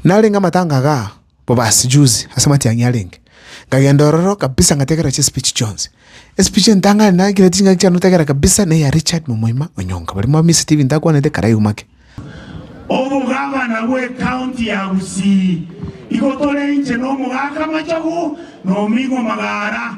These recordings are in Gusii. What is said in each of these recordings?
Narenge amatanga aga bo basijuzi ase amatiang'i arenge, nkagenda ororo kabisa ngategerera chispeech chionsi. Espeech entang'ani naikereti chingaki chiane otegera kabisa neya Richard momoima o Nyonga, baria Mwami Stephen takwanete karaiu make. Omogavana bw'ecounty ya Gusii, igo tore inche na omogaka Machogu na ominwa Magara.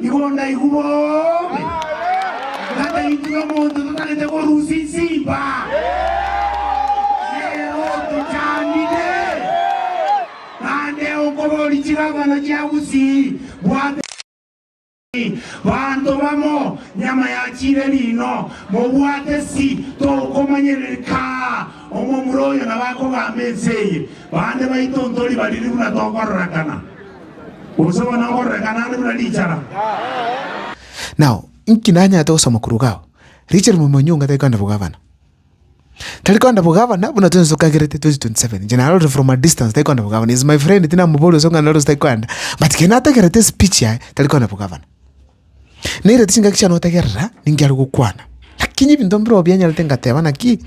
Igo ndaigwa bobe, ngata intwe omonto totarete korusia insimba, nero tochandire, naende onkobori chigabana chia bosii bwa Benjamini, banto bamo nyama ya chire riino, mobwate si tokomanyereri kaa omomura oyo nabo akogamba ense eye, bande baito ntori bariri buna tokororekana. Gose bono okororeka naende buna richara. Nao inki nanyarete gosoma korwa iga ao? Richard Momonyi onga tari koenda bogavana. Tari koenda bogavana buna twensi tokagerete 2027. Inche narorire from a distance tari koenda bogavana. He is my friend tinamoboria gose ng'a narose tari koenda but kero natagerete speech yaye tari koenda bogavana. Nere chingaki chiane otegerera ninki are gokwana. Lakini ebinto mbirobio bianyarete ngateba naki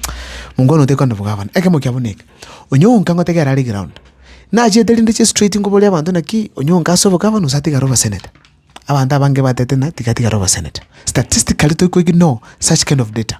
mongwana oyo tekogenda bogavana. Ekemo kiabo neke, onyonka ngotegerera are ground. Nachete rende chie straight ngoboria abanto naki onyonka ase obogavana gose atigare oboseneta. Abanto abange batete ng'a tiga atigare oboseneta. Statistically tokoignoe such kind of data.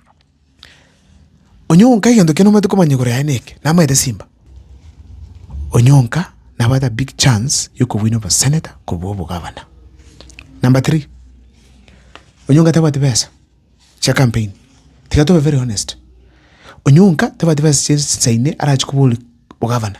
Onyonka egento ekiya nomanyete komanya igoro yaye neke, namanyete Simba. Onyonka nabwate a big chance ya okobuini obosenator korwa obogavana. Number three, Onyonka tabwati besa chia campaign, tiga tobe very honest. Onyonka tabwati besa chia esaine arachi koboria ogavana.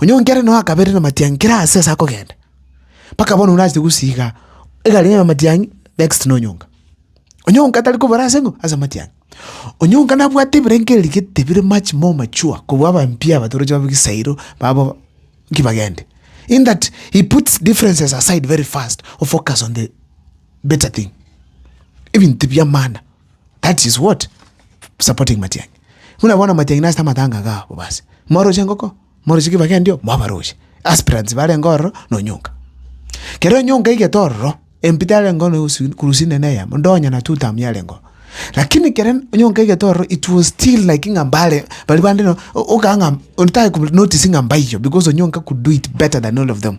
Onye o nkere noyo akaberera namatiangi kera aase ase akogenda, mpaka bono orase gosiiga egari yaye amatiangi next na onyonga. Onyonga tari kobora ase ng'o? Ase amatiangi. Onyonga nabwate ebirengererio gete bire much more mature kobua abampia aba toroche babe ebisairo babo nki bagende. In that he puts differences aside very fast o focus on the better thing, ebinto bi'amana. That is what? Supporting Matiang'i. Muna bono Matiang'i nase amatanga ga bobasi. Mwaroche engoko, mwaroche kibage ndio, mwabaroche. Aspirants bare enga ororo na Onyonka. Kero Onyonka aigete ororo, MP tare enga ororo kurusi nene eyemo, ndonye na two term yare enga ororo. Lakini kere Onyonka aigete ororo, it was still like ng'a mbare, bari bande no, o- okanga ng'a, otake ku notice ng'a mbaiyo because Onyonka could do it better than all of them.